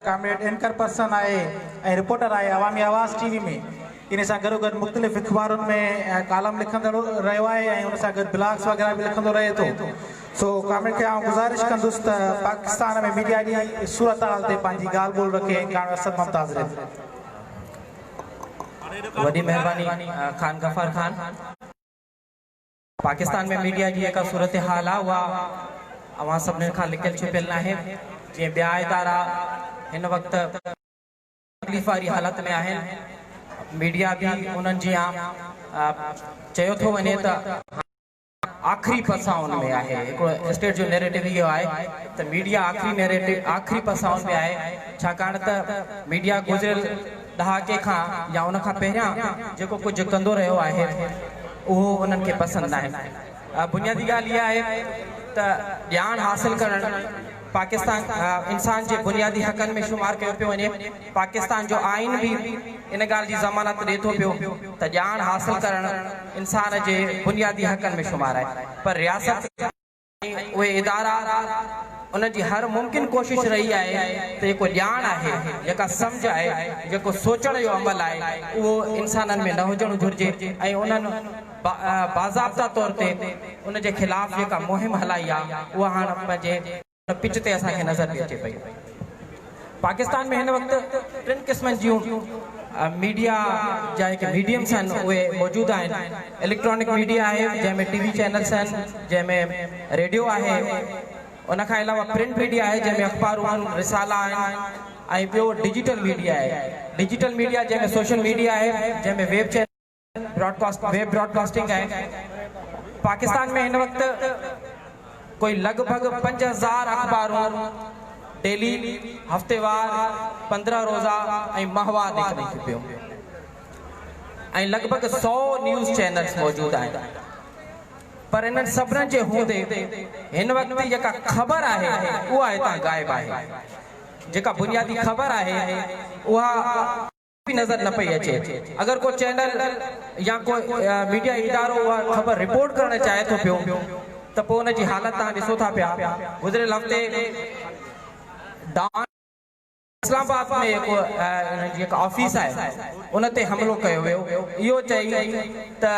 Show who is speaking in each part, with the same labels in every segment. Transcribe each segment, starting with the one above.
Speaker 1: Comrade anchor person آهي ۽ reporter آهي Awami Awaz T V ۾ ان سان گڏوگڏ مختلف اخبارن ۾ ڪالم لکندڙ رهيو آهي ۽ ان سان گڏ بلاگس وغيره به لکندو رهي ٿو سو ڪامريڊ کي آئون گذارش ڪندس ته پاڪستان ۾ ميڊيا جي صورتحال تي پنهنجي ڳالهه ٻولهه رکي ۽ ڪاڻ اسد ممتاز رحه
Speaker 2: وڏي مهرباني خان غفار خان. پاڪستان ۾ ميڊيا جي جيڪا صورتحال آ اها اوهان سڀني کان لڪيل ڇپيل ناهي جيئن ٻيا ادارا هن وقت تڪليف واري حالت ۾ آهن ميڊيا به انهن جيان چيو ٿو وڃي ته هاڻي آخري پسائن ۾ آهي هڪڙو اسٽيٽ جو نيريٽو اهو آهي ته ميڊيا آخري نيريٽو آخري پسائن ۾ آهي ڇاڪاڻ ته ميڊيا گذريل ڏهاڪي کان يا ان کان پهريان جيڪو ڪجهه ڪندو رهيو آهي اهو انهن کي پسند ناهي. بنيادي ڳالهه اها آهي ته ڄاڻ حاصل ڪرڻ پاڪستان انسان جي بنيادي حقن ۾ شمار ڪيو پيو وڃي، پاڪستان جو آئين به ان ڳالهه جي ضمانت ڏي ٿو پيو ته ڄاڻ حاصل ڪرڻ انسان جي بنيادي حقن ۾ شمار آهي پر رياست ۽ اهي ادارا انهن جي هر ممڪن ڪوشش رهي آهي ته جيڪو ڄاڻ آهي، جيڪا سمجهه آهي، جيڪو سوچڻ جو عمل آهي اهو انسانن ۾ نه هجڻ گهرجي ۽ انهن باضابطه طور تي ان جي خلاف جيڪا مهم هلائي آهي اها هاڻ پنهنجي ان پچ تي اسان کي نظر ٿي اچي پئي. پاڪستان ۾ هن وقت ٽن قسمن جون ميڊيا جا هيڪي ميڊيمس آهن اهي موجود آهن اليڪٽرانڪ ميڊيا آهي جنهن ۾ ٽي وي چينلس آهن جنهن ۾ ريڊيو آهي ان کان علاوه پرنٽ ميڊيا آهي جنهن ۾ اخبارون آهن رسالا آهن ۽ ٻيو ڊجيٽل ميڊيا آهي ڊجيٽل ميڊيا جنهن ۾ سوشل ميڊيا آهي جنهن ۾ web channel broadcast web broadcasting آهي پاڪستان ۾ هن وقت ڪوئي لڳ ڀڳ پنج هزار اخبارون ڊيلي هفتيوار پندرهن روزا ۽ ماهوار نڪرن ٿيون پيون ۽ لڳ ڀڳ سو نيوز چينلز موجود آهن پر انهن سڀنن جي هوندي هن وقت جي جيڪا خبر آهي اها هتان غائب آهي جيڪا بنيادي خبر آهي اها به نظر نه پئي اچي اگر ڪو چينل يا ڪو ميڊيا ادارو اها خبر رپورٽ ڪرڻ چاهي ٿو پيو ته پوء ان جي حالت توهان ڏسو ٿا پيا گذريل هفتي ڊان اسلام آباد ۾ هڪ انهن جي هڪ آفيس آهي ان تي حملو ڪيو ويو اهو چئي ته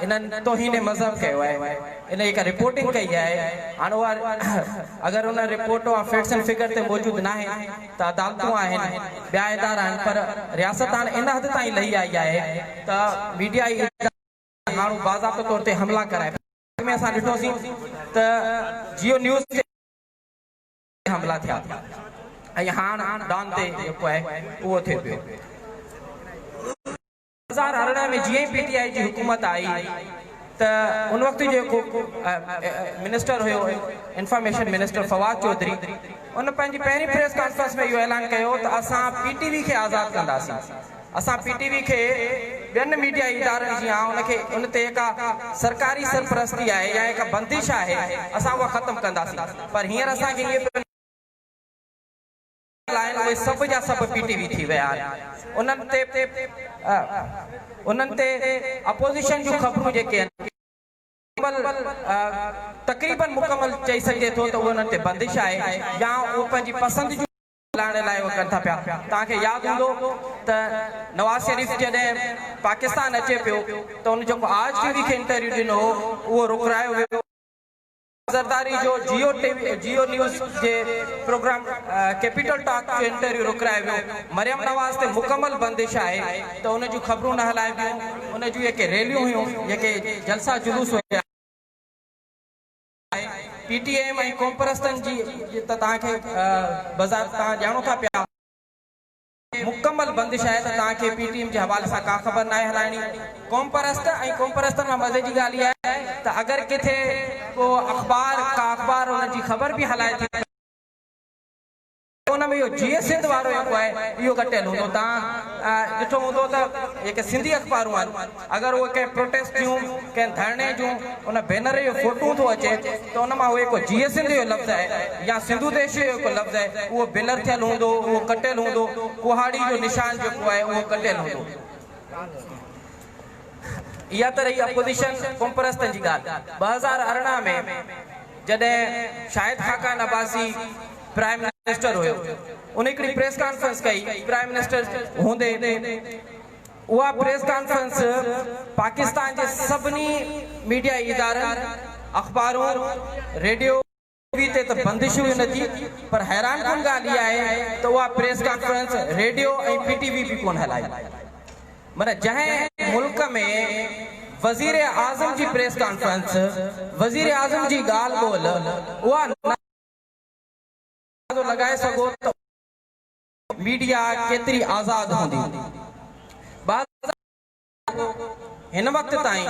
Speaker 2: انهن توهين مذهب ڪيو آهي ان جي ڪا رپورٽنگ ڪئي آهي هاڻ اها اگر ان رپورٽ اها فيڪٽس اينڊ فگر تي موجود ناهي ته عدالتون آهن، ٻيا ادارا آهن پر رياست هاڻ ان حد تائين لهي آئي آهي ته ميڊيا ئي ادارا تي هاڻ باضابطو طور تي حملا ڪرائي پئي ٿي. اڳ ۾ اسان ڏٺو سين ته جيو نيوز تي ڪيترائي حملا ٿيا ۽ هاڻ ڊان تي جيڪو آهي اهو ٿئي پيو. هزار ارڙهن ۾ جيئن ئي پي ٽي آء جي حڪومت آئي ته ان وقت جو جيڪو منسٽر هيو انفارميشن منسٽر فواد چوڌري ان پنهنجي پهرين پريس ڪانفرنس ۾ اهو اعلان ڪيو ته اسان پي ٽي وي کي آزاد ڪنداسين اسان پي ٽي وي کي ٻين ميڊيا ادارن جيان ان کي ان تي جيڪا سرڪاري سرپرستي آهي يا جيڪا بندش آهي اسان اها ختم ڪنداسين پر هينئر اسان کي اهي ڳالهايل آهن اهي سڀ جا سڀ پي ٽي وي ٿي ويا آهن انهن تي انهن تي اپوزيشن جون خبرون جيڪي آهن اهي مڪمل تقريبن مڪمل چئي سگهجي ٿو ته اهي انهن تي بندش آهي يا اهي پنهنجي پسند جون خبرون ڳالهائڻ لاء اهي ڪن ٿا پيا توهان کي ياد هوندو ته نواز شريف جڏهن پاڪستان اچي پيو ته ان جيڪو آج ٽي وي کي انٽرويو ڏنو هو اهو رڪرايو ويو هو. زرداري جو Geo T V Geo news جي پروگرام ڪيپيٽل ٽاڪ جو انٽرويو روڪرائي ويو، مريم نواز تي مڪمل بندش آهي ته ان جون خبرون نه هلائبيون، ان جون جيڪي ريليون هيون، جيڪي جلسا جلوس هيا، پي ٽي ايم ۽ قومپرستن جي ته توهان کي بذات توهان ڄاڻو ٿا پيا. مڪمل بندش آهي ته توهان کي پي ٽي ايم جي حوالي سان ڪا خبر ناهي هلائڻي. قومپرست ۽ قومپرستن مان مزي جي ڳالهه اها آهي ته اگر ڪٿي ڪو اخبار ڪا اخبار انهن جي خبر به هلائي ٿي ته ان ۾ اهو جيئي سنڌ وارو جيڪو آهي اهو ڪٽيل هوندو. توهان ڏٺو هوندو ته جيڪي سنڌي اخبارون آهن. اگر اهي ڪنهن پروٽيسٽ جون، ڪنهن ڌرڻي جون ان بينر جون فوٽون ٿو اچي ته ان مان اهي ڪو جيئي سنڌ جو لفظ آهي يا سنڌو ديشي جو ڪو لفظ آهي اهو بلر ٿيل هوندو، اهو ڪٽيل هوندو، ڪهاڙي جو نشان جيڪو آهي اهو ڪٽيل هوندو. اها ته رهي اپوزيشن قومپرستن جي ڳالهه ٻه هزار ارڙهن ۾ جڏهن شاهد خاقان عباسي پرائم منسٽر هيو ان هڪڙي پريس ڪانفرنس ڪئي پرائم منسٽر هوندي. اها پريس ڪانفرنس پاڪستان جي سڀني ميڊيائي ادارن، اخبارون، ريڊيو، ٽي وي تي ته بندش هئي نه ٿي پر حيران ڪن ڳالهه اها آهي ته اها press conference radio ۽ P T V به ڪونه هلائي معنيٰ جنهن ملڪ ۾ وزير اعظم جي پريس ڪانفرنس وزير اعظم جي ڳالهه ٻولهه اها نه اندازو لڳائي سگهو ته ميڊيا ڪيتري آزاد هوندي؟ بازار ۾ هن وقت تائين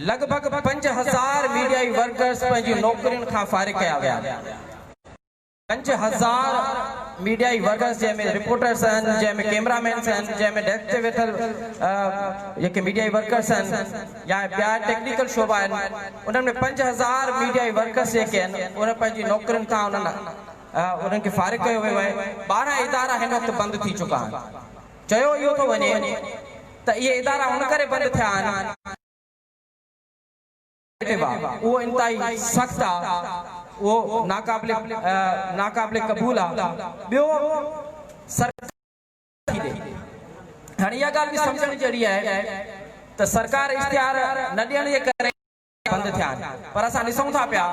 Speaker 2: لڳ ڀڳ پنج هزار ميڊيائي ورڪرز پنهنجي نوڪرين کان فارغ ڪيا ويا آهن. پنج هزار ميڊيائي ورڪرز جنهن ۾ رپورٽرز آهن، جنهن ۾ ڪيمرا مينز آهن، جنهن ۾ ڊيسڪ تي ويٺل جيڪي ميڊيائي ورڪرز آهن يا ٻيا ٽيڪنيڪل شعبا آهن، انهن ۾ پنج هزار ميڊيائي ورڪرز جيڪي آهن، انهن پنهنجي نوڪرين کان انهن انهن کي فارغ ڪيو ويو آهي، ٻارهن ادارا هن وقت بند ٿي چڪا آهن، چيو اهو ٿو وڃي ته اهي ادارا ان ڪري بند ٿيا آهن، اهو انتهائي سخت آ، اهو ناقابل ناقابل قبول آ، ٻيو سرڪار ڪيئن ٿي ڏئي، هاڻي اها ڳالهه به سمجهڻ جهڙي آهي ته سرڪار اشتهار نه ڏيڻ جي ڪري. بند ٿيا آهن پر اسان ڏسون ٿا پيا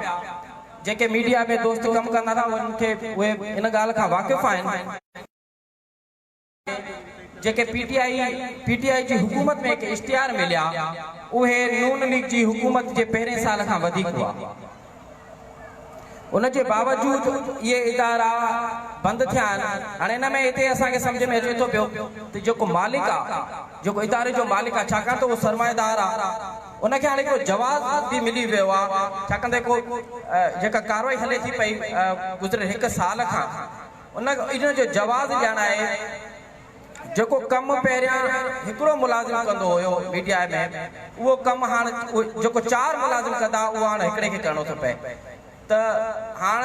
Speaker 2: جيڪي ميڊيا ۾ دوست ڪم ڪندا ٿا انهن کي اهي ان ڳالهه کان واقف آهن ته جيڪي P T I P T I جي حڪومت ۾ ڪي اشتهار مليا اهي نون ليگ جي حڪومت جي پهرين سال کان وڌيڪ هئا. ان جي باوجود اهي ادارا بند ٿيا آهن. هاڻي ان ۾ هتي اسان کي سمجهه ۾ اچي ٿو پيو ته جيڪو مالڪ آ، جيڪو اداري جو مالڪ آ ڇاڪاڻ ته اهو سرمائيدار آ، ان کي هاڻي هڪڙو جواز به ملي ويو آ ڇاڪاڻ ته جيڪو جيڪا ڪارروائي هلي ٿي پئي گذريل هڪ سال کان ان جو جواز ڏيڻ آهي. جيڪو ڪم پهريان هڪڙو ملازم ڪندو هيو پي ٽي آء ۾ اهو ڪم هاڻ جيڪو چار ملازم ڪندا اهو هاڻ هڪڙي کي ڪرڻو ٿو پئي ته هاڻ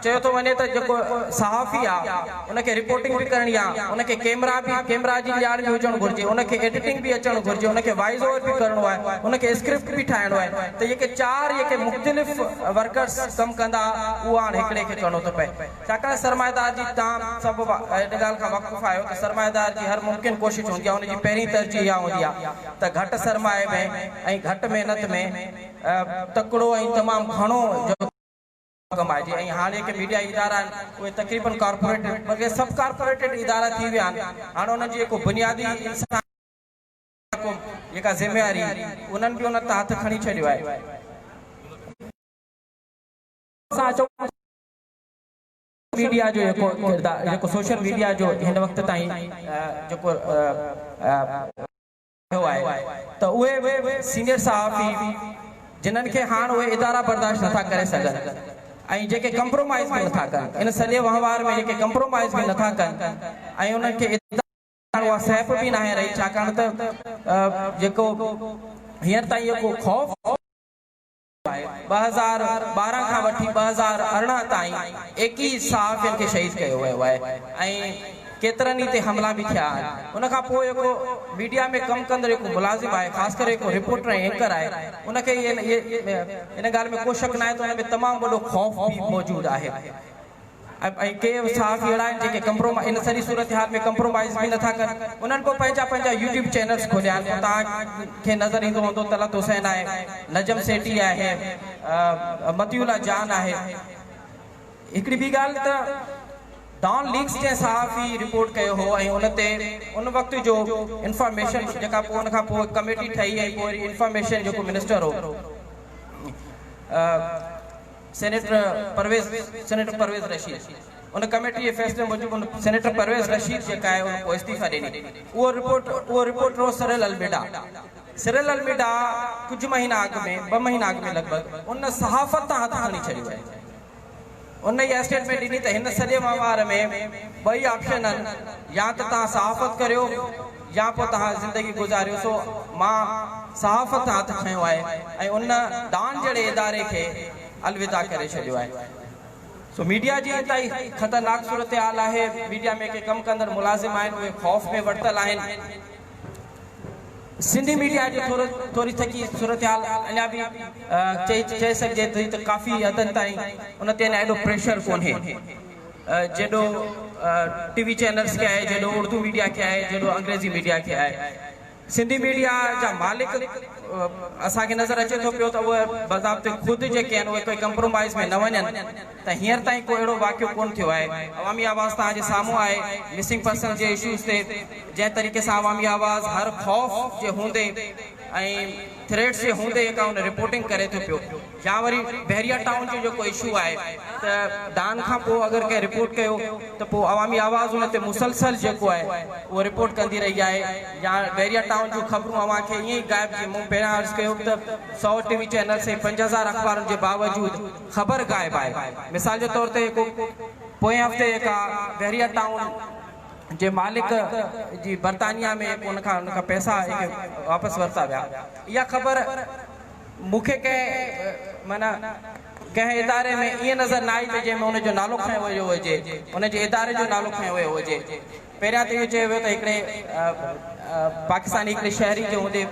Speaker 2: چيو ٿو وڃي ته جيڪو صحافي آ ان کي رپورٽنگ به ڪرڻي آ ان کي ڪيمرا به ڪيمرا جي ڄاڻ به هجڻ گهرجي ان کي ايڊيٽنگ به اچڻ گهرجي ان کي وائيس اوور به ڪرڻو آهي ان کي اسڪرپٽ به ٺاهڻو آهي ته جيڪي چار جيڪي مختلف ورڪرس ڪم ڪندا اهو هاڻ هڪڙي کي ڪرڻو ٿو پئي ڇاڪاڻ سرمائيدار جي ٽام سڀ ان ڳالهه کان واقف آهيو ته سرمائيدار جي هر ممڪن ڪوشش هوندي آهي ان جي پهرين ترجيح اها هوندي آهي ته گهٽ سرمائي ۾ ۽ گهٽ محنت ۾ تڪڙو ۽ تمام گهڻو جو ڪمائجي ۽ هاڻ جيڪي ميڊيائي ادارا آهن اهي تقريبن ڪارپوريٽ بلڪه سب ڪارپوريٽيڊ ادارا ٿي ويا آهن هاڻ انهن جي جيڪو بنيادي انساني حقوق جيڪا ذميواري انهن به ان تان هٿ کڻي ڇڏيو آهي. ميڊيا جو يڪو ڪردار يڪو سوشل ميڊيا جو هن وقت تائين جيڪو رهيو آهي ته اهي سينيئر صحافي جنن کي هاڻ اهي ادارا برداشت نٿا ڪري سگهن ۽ جيڪي ڪمپرومائيز به نٿا ڪن ان سڄي وهنوار ۾ جيڪي ڪمپرومائيز به نٿا ڪن ۽ انهن کي ادارا هاڻ اها سهپ به ناهي رهي ڇاڪاڻ ته جيڪو هينئر تائين يڪو خوف آهي، ٻه هزار ٻارهن کان وٺي ٻه هزار ارڙهن تائين ايڪيهه صحافين کي شهيد ڪيو ويو آهي ۽ ڪيترن ئي تي حملا به ٿيا آهن، ان کان پوء جيڪو ميڊيا ۾ ڪم ڪندڙ جيڪو ملازم آهي خاص ڪري جيڪو رپورٽر ۽ اينڪر آهي ان کي ان ڳالهه ۾ ڪو شڪ ناهي ته ان ۾ تمام وڏو خوف به موجود آهي. ۽ ڪي صحافي اهڙا آهن جيڪي ڪمپرومائيز ان سڄي صورتحال ۾ ڪمپرومائيز به نٿا ڪن انهن ڪو پنهنجا پنهنجا يوٽيوب چينلز کوليا آهن پوء توهان کي نظر ايندو هوندو طلعت حسين آهي نجم سيٺي آهي مطيع الله جان آهي هڪڙي ٻي ڳالهه ته ڊان ليڪس جنهن صحافي رپورٽ ڪيو هو ۽ ان تي ان وقت جو انفارميشن جيڪا پوء ان کان پوء ڪميٽي ٺهي ۽ پوء انفارميشن جيڪو منسٽر هو سينيٽر پرويز سينيٽر پرويز رشيد ان ڪميٽي جي فيصلي موجب ان سينيٽر پرويز رشيد جيڪا آهي ان پوء استعيفا ڏني اهو رپورٽ اهو رپورٽر هو سريل الميڊا سريل الميڊا ڪجهه مهينا اڳ ۾ ٻه مهينا اڳ ۾ لڳ ڀڳ ان صحافت تان هٿ کڻي ڇڏيو آهي ان اها اسٽيٽمينٽ ڏني ته هن سڄي وهنوار ۾ ٻئي آپشن آهن يا ته تان صحافت ڪريو يا پوء توهان زندگي گذاريو سو مان صحافت تي هٿ کنيو آهي ۽ ان ڊان جهڙي اداري کي الوداع ڪري ڇڏيو آهي سو ميڊيا جي انتهائي خطرناڪ صورتحال آهي ميڊيا ۾ ڪي ڪم ڪندڙ ملازم آهن اهي خوف ۾ ورتل آهن سنڌي ميڊيا جي ٿوري ٿڪي صورتحال اڃا به چئي چئي سگهجي ٿي ته ڪافي حدن تائين ان تي اڃا ايڏو پريشر ڪونهي. جيڏو ٽي وي چينلز کي آهي، جيڏو اردو ميڊيا کي آهي، جيڏو انگريزي ميڊيا کي آهي. سنڌي ميڊيا جا مالڪ اسان کي نظر اچي ٿو پيو ته اهي بضابط خود جيڪي آهن اهي ڪنهن ڪمپرومائيز ۾ نه وڃن ته هينئر تائين ڪو اهڙو واقعو ڪونه ٿيو آهي. عوامي آواز توهان جي سامهون آهي مسنگ پرسنز جي اشوز تي جنهن طريقي سان عوامي آواز هر خوف جي هوندي ۽ ٿريٽس جي هوندي هي ڪا ان رپورٽنگ ڪري ٿو پيو يا وري بحريا ٽائون جو جيڪو اشو آهي ته ڊان کان پوء اگر ڪنهن رپورٽ ڪيو ته پوء عوامي آواز ان تي مسلسل جيڪو آهي اهو رپورٽ ڪندي رهي آهي يا بحريا ٽائون جون خبرون اوهان کي ائين ئي غائب جي مون پهريان عرض ڪيو ته سؤ ٽي وي چينلس ۽ پنج هزار اخبارن جي باوجود خبر غائب آهي مثال جي طور تي هڪ پوئين هفتي هي ڪا بحريا ٽائون جي مالڪ جي برطانيا ۾ هڪ ان کان ان کان پئسا هڪ واپس ورتا ويا اها خبر مون کي ڪنهن معنيٰ ڪنهن اداري ۾ ائين نظر نه آئي ته جنهن ۾ ان جو نالو کنيو ويو هجي ان جي اداري جو نالو کنيو ويو هجي پهريان ته اهو چيو ويو ته هڪڙي پاڪستاني هڪڙي شهري جي هوندي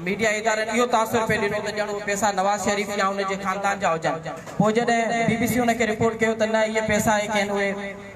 Speaker 2: ميڊيا ادارن اهو تاثر پئي ڏنو ته ڄڻ اهي پئسا نواز شريف يا ان جي خاندان جا هجن پوء جڏهن بي بي سي ان کي رپورٽ ڪيو ته نه اهي پئسا هي ڪين اهي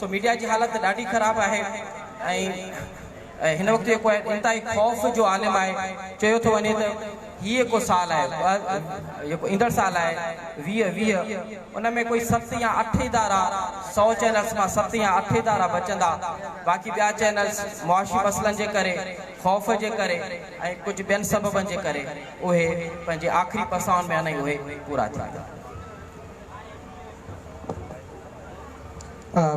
Speaker 2: سو ميڊيا جي حالت ڏاڍي خراب آهي ۽ هن وقت جيڪو آهي انتهائي خوف جو عالم آهي چيو ٿو وڃي ته هي جيڪو سال آهي جيڪو ايندڙ سال آهي ويهه ويهه ان ۾ ڪوئي ست يا اٺ ادارا سؤ چينلز مان ست يا اٺ ادارا بچندا باقي ٻيا چينلز معاشي مسئلن جي ڪري خوف جي ڪري ۽ ڪجهه ٻين سببن جي ڪري اهي پنهنجي آخري پسائن ۾ آهن ۽ اهي پورا ٿيندا.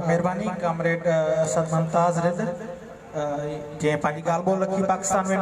Speaker 1: مھرباني ڪامريڊ اسد ممتاز رند جنھن پنھنجي ڳالھھ ٻولھھ لکي پاڪستان ۾.